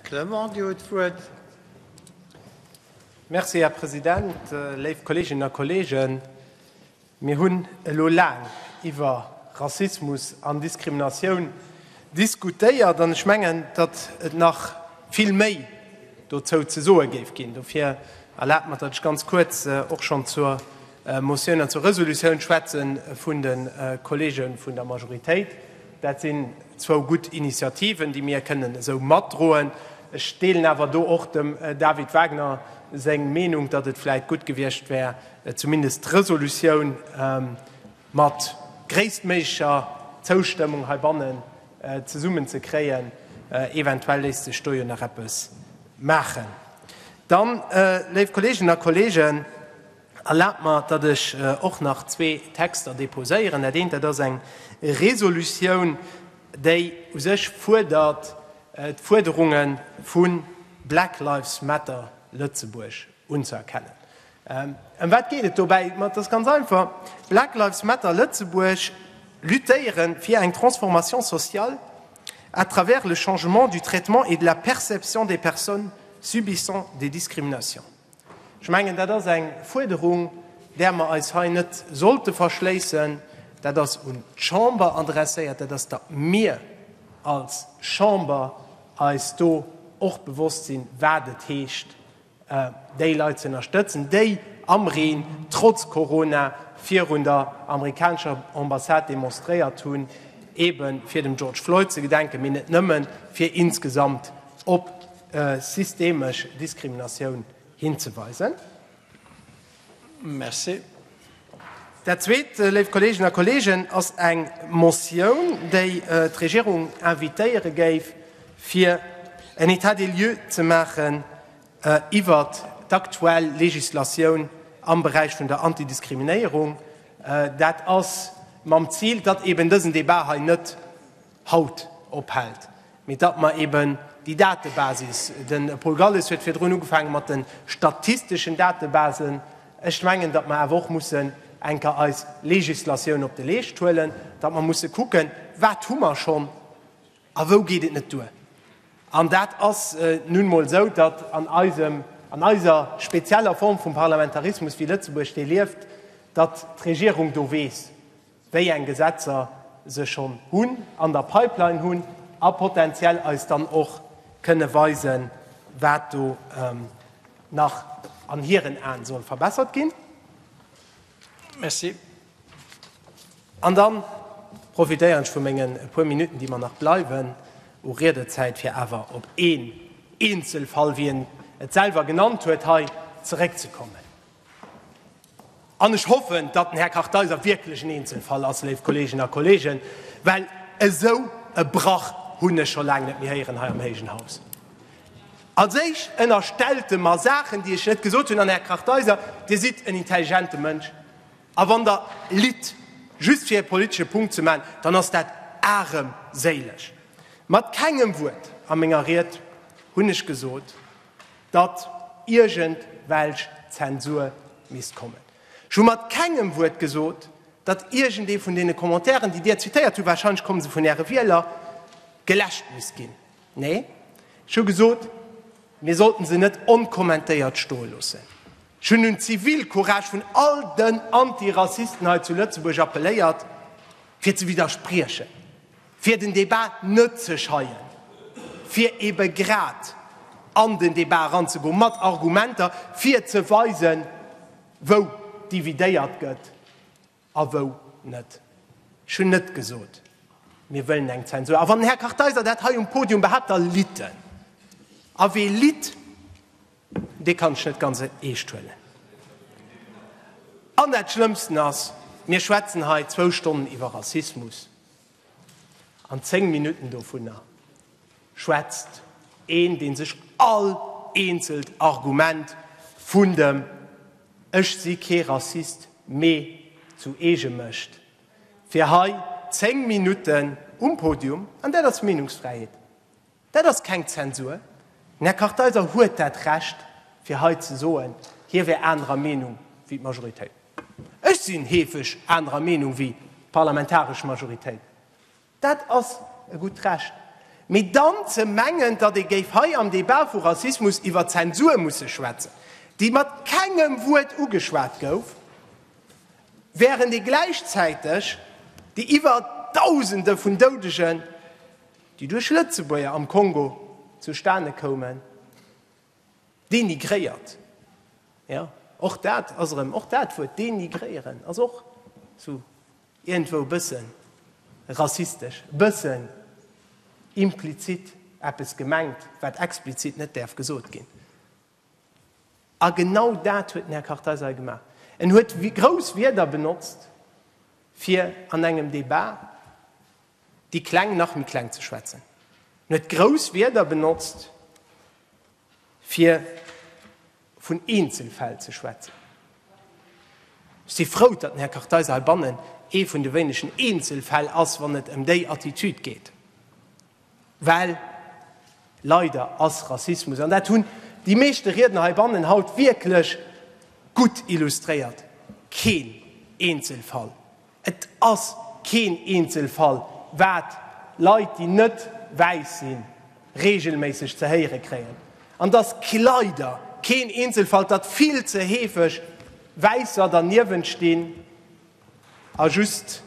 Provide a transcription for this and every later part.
Clement, Dir hutt d'Wuert. Merci, Här President. Léif Kolleeginnen a Kolleegen, mir hunn elo laang iwwer Rassismus an Diskriminatioun diskutéiert an ech mengen, datt et nach vill méi dozou ze soe géif ginn. Dofir erlaabt mer, datt ech ganz kuerz och schonn zur Motioun an zur Resolutioun schwätze vun de Kolleege vun der Majoritéit. Dat sinn zwou gutt Initiativen, déi mir kënnen esou matdroen. Ech deelen awer do och dem David Wagner seng Meenung, datt et vläicht gutt gewiescht wär, zumindest d'Resolutioun mat gréisstméiglecher Zoustëmmung heibannen zesummen ze kréien. Eventuell léisst sech do jo nach eppes maachen. Dann, léif Kolleeginnen a Kolleegen, Erlaabt mer, datt ech och nach zwee Texter déposéieren. Dat eent, dat ass eng Resolutioun, déi u sech fuerdert, d'Fuerderunge vu Black Lives Matter Lëtzebuerg unzëerkennen. Ëm wat geet et dobäi? Dat ass ganz einfach, Black Lives Matter Lëtzebuerg luttéiere fir eng Transformation sociale à travers le changement du traitement et de la perception des personnes subissant des discriminations. Ech mengen, dat ass eng Fuerderung, där mer eis hei net sollte verschléissen. Dat ass un d'Chamber adresséiert. Dat ass, datt mir als Chamber eis do och bewosst sinn, wat et heescht, déi Leit ze ënnerstëtzen, déi am Reen, trotz Corona, virun der amerikanescher Ambassade demonstréiert hunn, eebe fir dem George Floyd ze gedenken, mee net nëmmen, fir insgesamt op systemesch Diskriminatioun hinzeweisen. Merci. Dat Zweet, léif Kolleegen a Kolleegen, ass eng Motioun, déi d'Regierung invitéiere géif, fir en État des lieux ze maachen iwwert d'aktuell Legislatioun am Beräich vun der Antidiskriminéierung. Dat ass mam Zil, datt eeben dësen Debat hei net, haut ophält, mee datt mer eben déi Datebasis, de Paul Galles huet virdrun ugefaange mat de statisteschen Datebasen, ech mengen, datt mer awer och mussen eng Kéier eis Législatioun op de Leescht huelen, datt mer musse kucken, wat hu mer schonn a wou geet et net duer. An dat ass nun emol esou, datt an eisem, an eiser spezieller Form vum Parlamentarismus, wéi Lëtzebuerg dee lieft, datt d'Regierung do weess, wéi eng Gesetzer se schonn hunn, an der Pipeline hunn, a potentiell eis dann och kënne weisen, wat do nach an hiren Aen soll verbessert ginn. Merci. An da profitéieren ech vu mengen puer Minutten, déi mer nach bleiwen u Riedezäit, fir awer op een Eenzelfall, wéi en et selwer genannt huet, hei zeréckzekommen. An ech hoffen, datt den Här Kartheiser wierklech en Eenzelfall ass, léif Kolleeginnen a Kolleegen, well esou e Brach hunn ech scho laang net méi héieren hei am héijen Haus. Als Éischt ënnerstellt e mer Saachen, déi ech net gesot hunn. An, Här Kartheiser, Dir sidd en intelligente Mënsch. A wann Der litt, just fir e politesche Punkt ze maachen, dann ass dat aremséileg. Mat kengem Wuert a menger Ried hunn ech gesot, datt iergend welch Zensur misst kommen. Ech hu mat kengem Wuert gesot, datt iergendee vun deene Commentairen, déi Dir zitéiert hutt, warscheinlech komme se vun Äre Wieler, geläscht misst ginn. Nee, ech hu gesot, mir sollten se net onkommentéiert stoe loossen. Ech hunn un d'Zivilcourage vun all den Antirassisten hei zu Lëtzebuerg appelléiert, fir ze widderspriechen. fir den Débat net ze scheien, fir ebe grad an den Débat eranzegoen, mat Argumenter, fir ze weisen, wou dividéiert gëtt a wou net. Ech hunn net gesot, mir wëllen eng Zensur. A wann den Här Kartheiser dat hei um Podium behaapt, da litt en. A wee litt, dee kann ech net ganz eescht huelen. An dat Schlëmmsten ass, mir schwätzen hei zwou Stonnen iwwer Rassismus. An 10 Minutten dovunner schwätzt een, dee sech all eenzelt Argument vun dem Ech si kee Rassist, mee zu eege mécht, fir hei 10 Minutten um Podium, an dat ass Meenungsfräiheet, Dat ass keng Zensur. Den Här Kartheiser huet dat Recht, fir hei ze soen, hie wär anerer Meenung wéi d'Majoritéit. Ech sinn heefeg anerer Meenung wéi d'parlamentaresch Majoritéit. Dat ass e gutt Recht. Mee dann ze mengen, datt ee géif hei am Débat vu Rassismus iwwer Zensur musse schwätzen, déi mat kengem Wuert ugeschwat gouf, wärend ee gläichzäiteg déi iwwer Dausende vun Doudegen déi duerch Lëtzebuerger am Kongo zustane koumen, dénigréiert, jo, och dat ass erëm, och dat Wuert dénigréieren ass och sou iergendwou e bësse rassistesch, e bësse implizit eppes gemengt, wat explizit net däerf gesot ginn. A genau dat huet den Här Kartheiser hei gemaach. En huet grouss Wierder benotzt, fir an engem Debat déi Kleng nach méi kleng ze schwätzen. En huet grouss Wierder benotzt, fir vun Eenzelfäll ze schwätzen. Ech si frou, datt den Här Kartheiser heibannen ee vun de wéinegen Eenzelfäll ass, wann et ëm déi Attitüd geet, well leider ass Rassismus, an dat hunn déi meeschte Riedner heibannen haut wierklech gutt illustréiert, keen Eenzelfall. Et ass keen Eenzelfall, wat Leit, déi net wäiss sinn, reegelméisseg ze héiere kréien. An et ass leider keen Eenzelfall, datt vill ze heefeg Wäisser derniewent stinn a just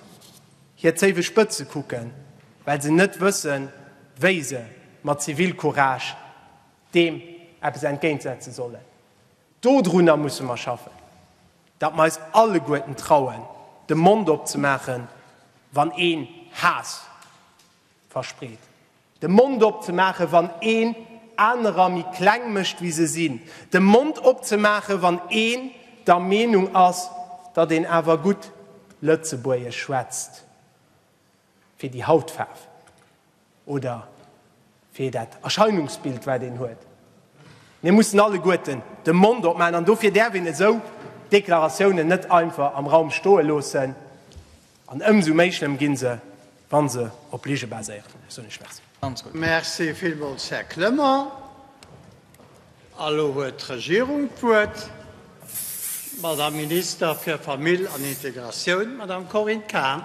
hir Zéiwe spëtze kucken, well se net wëssen, wéi se mat Zivilcourage deem eppes entgéintsetze sollen. Dodrunner musse mer schaffen. Datt mer eis alleguerten trauen, de Mond opzemaachen, wann een Haass verspreet. De Mond opzemaachen, wann een anerer méi kleng mécht, wéi se sinn. De Mond opzemaachen, wann een der Meenung ass, datt een awer gutt Lëtzebuergesch schwätzt. fir déi Hautfaarf oder fir dat Erscheinungsbild, wat een huet. Mir mussen alleguerten de Mond opmaachen an dofir däerf een esou Deklaratiounen net einfach am Raum stoe loossen an ëmsou méi schlëmm gi se, wa se op Lige baséieren. Ech soen Iech Merci. Merci villmools, Här Clement. A lo huet d'Regierung d'Wuert, d'Madame Minister fir Famill an Integratioun, d'Madame Corinne Cahen.